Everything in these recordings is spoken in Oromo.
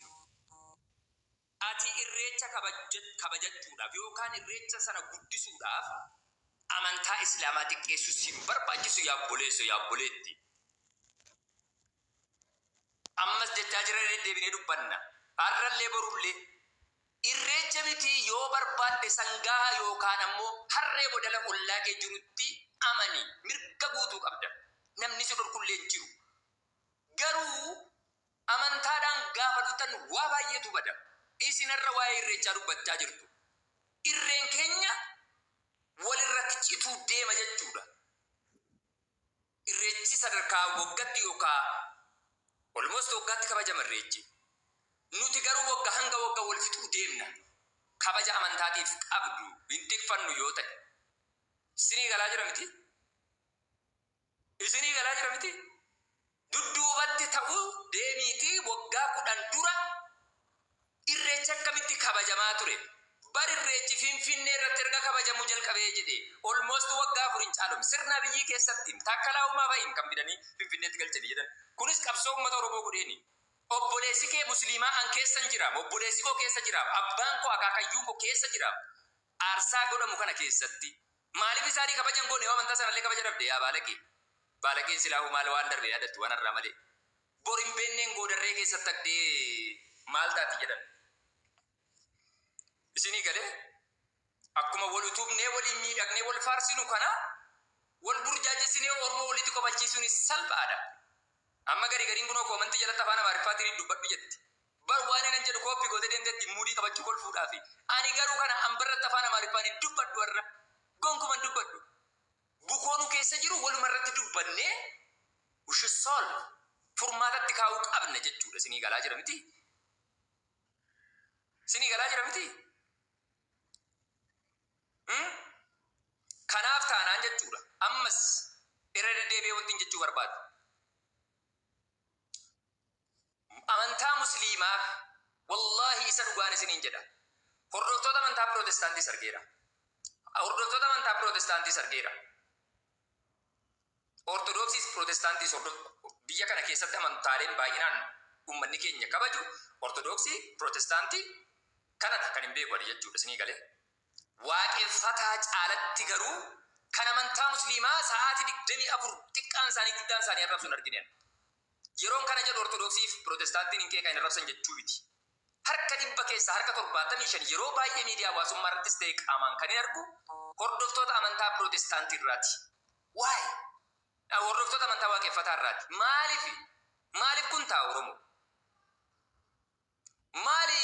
Cubbuu. Ati Irreecha kabajachuudhaaf yookaan Irreecha sana guddisuudhaaf amantaa Islaamaa xiqqeessuu si hin barbaachisu yaa obboleesso, yaa obboleetti. Ammas jechaa jirra deddeebinee dubbanna. Har'allee borullee. Irreecha miti yoo barbaadde sangaa yookaan ammoo harree godala ollaa kee jirutti amani. Mirga guutuu qabda. Namni si dhorkullee hin jiru. Garuu. Amantaadhaan gaafa dhuftan waa baay'eetu bada. Isin har'a waa'ee Irreechaa dubbachaa jirtu. Irreen keenya walirratti cituu deema jechuudha. Irreechi sadarkaa waggatti yookaa almost waggaatti kabajama Irreechi. Nuti garuu wagga hanga wagga wal fixuu deemna. Kabaja amantaatiif qabdu hin tikfannu yoo ta'e. Sinii galaa jira mitii? Isinii galaa jira miti? Dudduubatti ta'u deemiitii waggaa 10 dura irreechi akkamitti kabajamaa ture? Bar irreechi Finfinnee irratti erga kabajamuu jalqabee jedhee almost waggaa 4 hin caalu. Sirna Abiyyii keessatti Taakkalaa Uumaa fa'i kan fidanii Finfinneetti galchanii jedhan. Kunis qabsoo uummata Oromoo godheeni. Obboleessi kee Musliimaa an keessan jiraam, obboleessi koo keessa jiraam, abbaan koo akaakayyuun koo keessa jiraam. Aarsaa godhamu kana keessatti Maalif isaani kabaja hin goone yoo amantaa sanalle kabaja dhabde yaa baalage baalageen silaahu maal waan darbe yaadattu waan arraa malee bor hin beenneen goodarree keessa tagde maal taati jedhan isini gale akkuma wal utubnee waliin miidhagnee wal faarsinu kana wal burjaajessinee ormoo walitti kofalchiisuunis salphaadha amma gari gariin kunoo koomantii jalatti afaan amaariffaatiin dubbadhu jetti Bar waan inan jedhu copy gootee deemteetti muudii qabachuu kolfuudhaafi. Ani garuu kana amba irratti afaan Amaariffaan hin dubbadhu har'a. Gonkuman hin dubbadhu. Bukoo nu keessa jiru waluma irratti dubbannee we should solve. Furmaatatti kaa'uu qabna jechuudha. Isinii galaa jira mitii? Isinii galaa jira mitii? Hmm? Kanaaf taanaan jechuudha. Ammas irra deddeebi'ee wantiin jechuu barbaadu. Amantaa Musliimaa, Wallaahi isa dhugaan isiniin jedha, hordoftoota amantaa Pirootestaantiis argeera. Hordoftoota amantaa Pirootestaantiis argeera. Ortodoksiis Pirootestaantiis hordoftoota biyya kana keessatti amantaaleen baay'inaan ummanni keenya kabaju Ortodoksii, Pirootestaantii kanadha kan hin beeku ani jechuudha. Isinii galee? Waaqeffataa caalatti garuu kan amantaa Musliimaa sa'aatii 24 xiqqaan isaanii guddaan isaanii arrabsu hin argine ani. Yeroon kana jedhu Ortodoksii fi Pirootestaantiin hin qeeqan, hin arrabsan jechuu miti. Harka dhibba keessaa harka 75 yeroo baay'ee miidiyaa hawaasummaa irrattis ta'e qaamaan kanin argu hordoftoota amantaa Pirootestaantii irraati. Why? Dha hordoftoota amantaa Waaqeffataa irraati. Maalifi? Maaliif kun ta'a Oromoo? Maali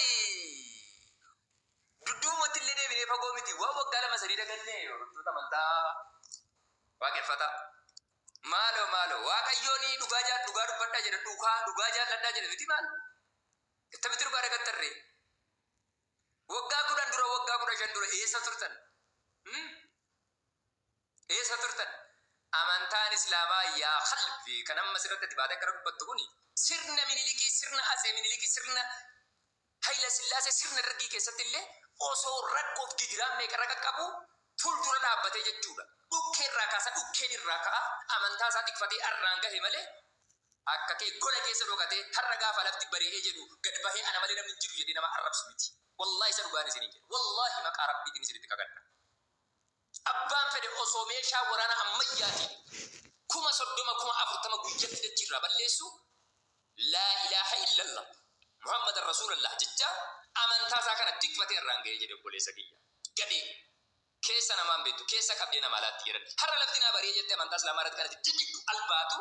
dudduubumatti illee deebinee fagoo miti waan waggaa lama sadii daganne hordoftoota amantaa waaqeffataa. Maaloo maaloo waaqayyoon dhugaa jaal dhugaa dubbadhaa jedha dhugaa dhugaa jaalladhaa jedha miti maal ittamitti dhugaa dagattarree waggaa kudhan dura waggaa kudha shan dura eessa turtan? Hmm? Eessa turtan? Amantaan Islaamaa yaa kalb kan amma asirratti ati baatee akkana dubbattu kuni sirna Minilikii, sirna Atsee Minilikii, sirna Hayila Sillaasee, sirna Dargii keessatti illee osoo rakkoof gidiraan meeqa irra qaqqabuu fuldura dhaabbatee jechuudha. Dhukkee irraa kaasa dhukkeen irraa ka'a amantaa isaa tikfatee arraan gahe malee akka kee gola keessa dhokatee har'a gaafa lafti bari'ee jedhu gad bahee ana malee namni hin jiru jedhee nama arrabsu miti. Wallaahi isa dhugaan isiniin jedha. Wallaahi maqaa Rabbiitiin isinitti kakadha. Abbaan fedhe osoo meeshaa waraanaa ammayyaatiin kuma 30, kuma 40 guyyatti dachiirraa balleessuu, Laa ilaaha illallah, Muhammadan Rasuulallah jechaa amantaa isaa kana tikfatee har'aan gahee jedhe obboleessa kiyya. Gadhee! Keessa namaa hin beektu, keessa qabdee namaa laatti jedhan. Har'a lafti naa bari'e jettee amantaa Islaamaa irratti kan ati jijjigdu albaatu,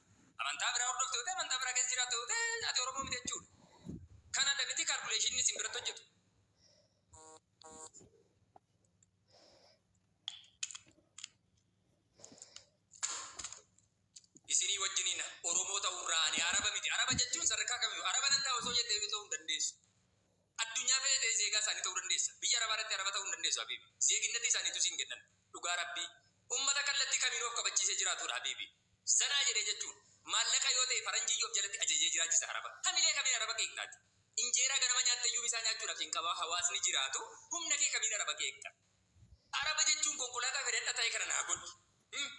Amantaa biraa hordofte yoo ta'e, amantaa biraa keessa jiraatta yoo ta'e ati Oromoo miti jechuudha. Kan adda miti kaalkuleeshiniin isin biratti hojjetu. Isinii wajjiniin Oromoo ta'uurraa ani Araba miti. Araba jechuun sadarkaa kamiyyuu Araba nan ta'a osoo jettee iyyuu ta'uu hin dandeessu. Addunyaa fee tee zeegaa isaanii ta'uu dandeessa biyya arabaa irratti araba ta'uu hin dandeessu habiibi zeeginnati isaanii ituu siin kennan dhugaa rabbii ummata kallattii kamiinuu of kabachiisee jiraatuudha habiibi zanaa jedhee jechuun maallaqa yoo ta'e faranjiiyyuu of jalatti ajajee jiraachisa araba hamilee kamiin araba qeeqxa ati injeeraa ganama nyaatteyyu misaa nyaachuudhaaf siin qabaa hawaasni jiraatu humna kee kamiin araba qeeqxa araba jechuun konkolaataa fedhadha ta'ee kana naa godhi him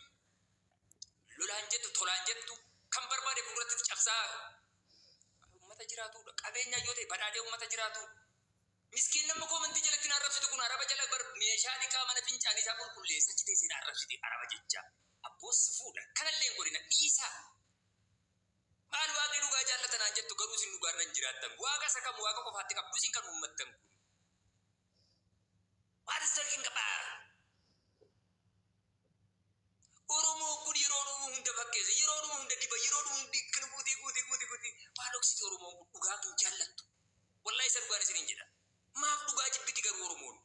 lolaan jettu tolaan jettu kan barbaade fuulduratti itti cabsaa Ummata jiraatuudha. Qabeenyaa yoo ta'e badhaadhee ummata jiraatuudha. Miskiin namni koomentii jalatti na arrabsitu kun araba jala bar meeshaa dhiqaa mana fincaanii isaa qulqulleessa achi teessee na arrabsiti araba jechaa. Abboo si fuudha. Kanallee hin godhina. Dhiisaa. Maal waaqni dhugaa jaallata naan jettu garuu isin dhugaarra hin jiraattan. Waaqa isa kam waaqa qofaatti qabdu isin kan uummattan kun. What is talking about? Oromoon kun yeroo dhuma hunda fakkeessa, yeroo dhuma hunda diba, yeroo dhuma hunda akkana gootee gootee gootee gootee maal dhoksiti Oromoon kun dhugaa hin jaallattu. Wallahi isa dhugaan isiniin jedha. Maaf dhugaa jibbiti garuu Oromoon?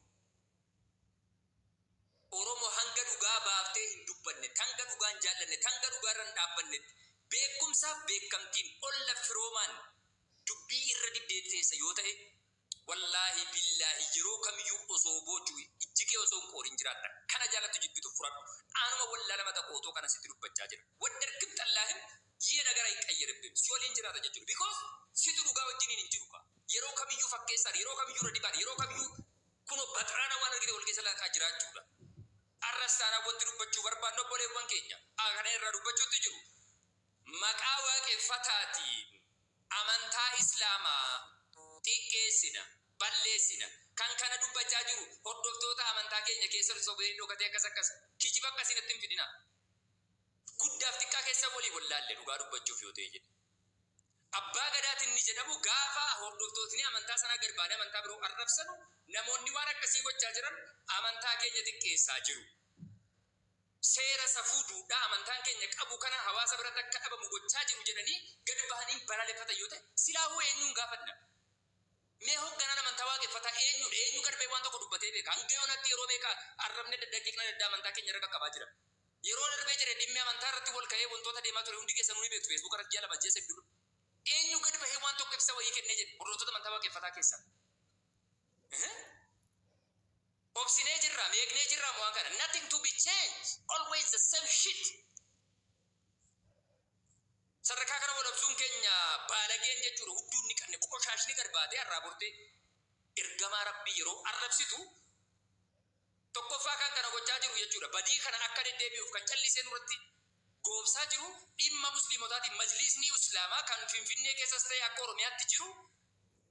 Oromo hanga dhugaa baaftee hin dubbanne, hanga dhugaa hin jaallanne, hanga dhugaa irra hin dhaabbannetti beekumsaaf beekamtiin olla firoomaan dubbii irra dibdee teessa yoo ta'e Wallaahi billaahi yeroo kamiyyuu osoo boochu ijji kee osoo hin qooriin jiraatta kana jaalattu jibbitu furadhu anuma wallaala mata kootoo kana sitti dubbachaa jira waddarkm xallaahim yee nagara hiqqayyiribbim si waliin jiraata jechudha because situ dhugaa wajjiniin hin jiru kaa yeroo kamiyyuu fakkeessaan yeroo kamiyyuu irra dibaan yeroo kamiyyuu kunoo baxraana waan argite wal keessa laaqaa jiraachuudha arras taanaan wanti dubbachuu barbaannu obboleewwan keenya kana irraa dubbachuutti jiru maqaa waaqeffataatiin Amantaa Islaamaa xiqqeessina, balleessina. Kan kana dubbachaa jiru hordoftoota amantaa keenya keessatti sobee dhokatee akkas akkas. Kijiba akkasii natti hin fidinaa. Guddaaf xiqqaa keessan walii wallaalle dhugaa dubbachuuf yoo ta'e jedhe. Abbaa Gadaati inni jedhamu gaafa hordoftootni amantaa sanaa gad ba'anii amantaa biroo arrabsanu namoonni waan akkasii gochaa jiran amantaa keenya xiqqeessaa jiru. seera safuu duudhaa amantaan keenya qabu kana hawaasa biratti akka dhabamu gochaa jiru jedhanii gad bahanii balaaleffatan yoo ta'e silaahuu eenyuun gaafanna? Mee hogganaan amantaa waaqeffataa eenyuudha? Eenyu gad bahee waan tokko dubbatee beeka? Hanga yoonaatti yeroo meeqa arrabni adda addaa qeeqni adda addaa amantaa keenya irra qaqqabaa jira? Yeroo darbee jedhe dhimmi amantaa irratti wal ka'ee wantoota deemaa ture hundi keessanuu ni beektu Facebook irratti ji'a lama ji'a sadii dura. Eenyu gad bahee waan tokko ibsa wayii kennee jedhe hordoftoota amantaa waaqeffataa keessaa? Obsinee jirra, meeqnee jirra mo'aa kana. Nothing to be changed. Always the same shit. Sadarkaa kana walabsuun keenya baalageen jechuudha. Hudduu inni qanne qoshaashni gad baatee har'aa bortee ergamaa rabbii yeroo arrabsitu tokkoffaa kan kana gochaa jiru jechuudha. Badii kana akka deddeebi'uuf kan callisee nurratti goobsaa jiru dhimma musliimotaatiin majliisni islaamaa kan finfinnee keessas ta'e akka oromiyaatti jiru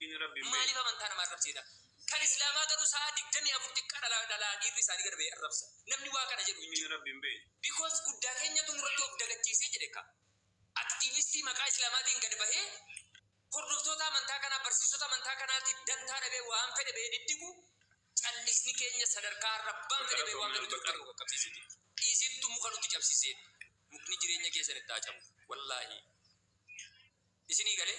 Dini rabbi hin Maaliif beeyne. amantaa nama arrabsiita? Kan Islaamaa garuu sa'aa 24 xiqqaa dhalaa dhalaa dhiirri isaanii gad ba'ee arrabsa. Namni waa kana jedhu hin Dini jiru. rabbi hin beeyne. Because guddaa keenyatu nurratti of dagachiisee jedhe ka. Activistii maqaa Islaamaatiin gad bahee hordoftoota amantaa kanaa, barsiisota amantaa kanaatiif dantaa dhabee waan fedhe bahee diddigu callisni keenya sadarkaa arrabbaan fedhe bahee waan Galatoomi fedhe dubbachuun nu Albataa. qaqqabsiisuuti. Isintu muka nutti cabsisee. Mukni jireenya keessan itti haa cabu. Wallaahii. Isinii galee?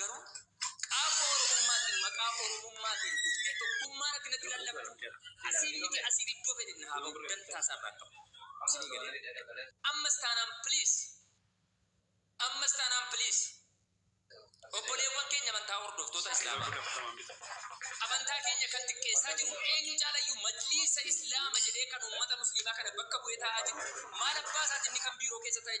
Garuu qaaffoo Oromummaatiin maqaa Oromummaatiin dhuftee tokkummaan akka natti lallabdu asiin miti asiin iddoo fedhe na haa bahu dantaa isaa irraa hin qabu. Isinii galee? Ammas taanaan please ammas taanaan please obboleewwan keenya amantaa hordoftoota Islaamaa amantaa keenya kan xiqqeessaa jiru eenyu caalayyuu Majliisa Islaama jedhee kan uummata Musliimaa kana bakka bu'ee taa'aa jiru maal abbaa isaatiin inni kan biiroo keessa taa'e